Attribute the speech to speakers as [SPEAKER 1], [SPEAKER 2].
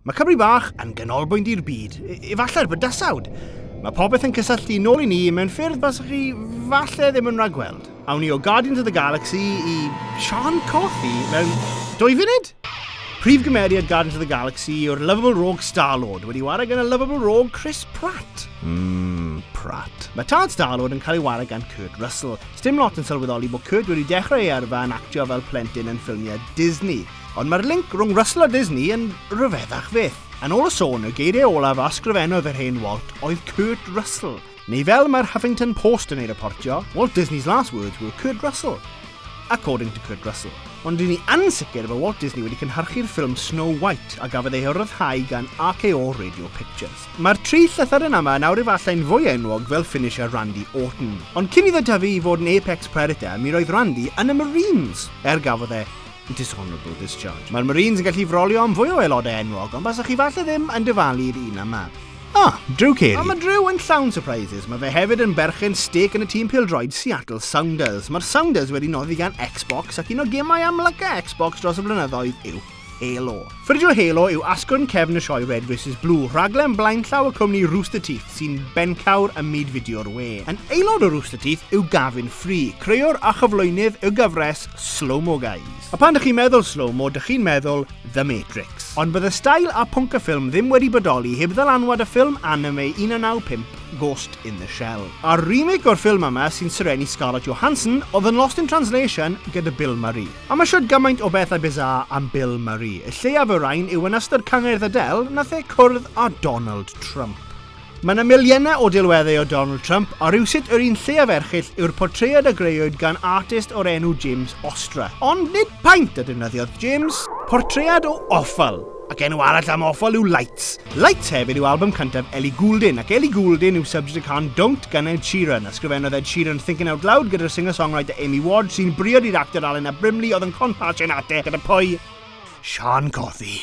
[SPEAKER 1] Mae Cymru Bach yn ganolbwynt i'r byd, efallai'r bydysawd. Mae popeth yn cysylltu nôl i ni mewn ffyrdd baswch chi falle ddim yn rhagweld. Awn ni o Guardians of the Galaxy i Sean Coffey mewn dwy funud? Prif gymeriad Guardians of the Galaxy yw'r lovable rogue Star-Lord, wedi wario gan y lovable rogue Chris Pratt. Mmm, Pratt. Mae tad Star-Lord yn cael ei wario gan Kurt Russell. Sdim lot yn sylweddoli bod Kurt wedi dechrau ei yrfa yn actio fel plentyn yn ffilmiau Disney. Ond mae'r link rhwng Russell a Disney yn rhyfeddach fyth. Yn ôl y sôn, y geiriau olaf a ysgrifennodd yr hen Walt oedd Kurt Russell, neu fel mae'r Huffington Post yn ei reportio, Walt Disney's last words were Kurt Russell. According to Kurt Russell. Ond dyn ni ansicr bod Walt Disney wedi cynhyrchu'r ffilm Snow White a gafodd ei ryddhau gan RKO Radio Pictures. Mae'r tri llythyren yma yn awr efallai'n fwy enwog fel Finnish a Randy Orton. Ond cyn iddo dyfu i fod yn apex predator, mi roedd Randy yn y Marines, er gafodd e Dishonourable discharge. Mae'r Marines yn gallu frolio am fwy o aelodau enwog, ond basech chi falle ddim yn dyfalu i'r un yma. Ah, Drew Carey. Ond mae Drew yn llawn surprises. Mae fe hefyd yn berchen stec yn y tîm pildroed Seattle Sounders. Mae'r Sounders wedi noddi gan Xbox ac un o gemau amlyca Xbox dros y blynyddoedd yw Halo. Fideo Halo yw asgwrn cefn y sioe Red vs Blue, rhaglen blaenllaw y cwmni Rooster Teeth sy'n bencawr ym myd fideo'r we. Yn aelod o Rooster Teeth yw Gavin Free, creüwr a chyflwynydd y gyfres Slow Mo Guys. A phan dych chi'n meddwl slow mo, dych chi'n meddwl The Matrix. Ond bydd y stail a pwnc y ffilm ddim wedi bodoli heb ddylanwad y ffilm anime 1995 Ghost in the Shell. A'r remake o'r ffilm yma sy'n serennu Scarlett Johansson oedd yn Lost in Translation gyda Bill Murray. A ma shwd gymaint o bethau bizarre am Bill Murray. Y lleiaf y rain yw yn ystod cyngerdd Adele nath e cwrdd â Donald Trump. Ma na miliynau o delweddau o Donald Trump a rywsut yr un lleiaf erchyll yw'r portread a greuwyd gan artist o'r enw James Ostra. Ond nid paent a defnyddiodd James, portread o offal! Ac enw arall am Offal yw Lights. Lights hefyd yw album cyntaf Ellie Goulding, ac Ellie Goulding yw subject y can Don't gan Ed Sheeran. Ysgrifennodd Ed Sheeran Thinking Out Loud gyda'r singer-songwriter Amy Ward, sy'n briod i'r actor Alena Brimley oedd yn con patch yn ate gyda pwy? Sian Cothi.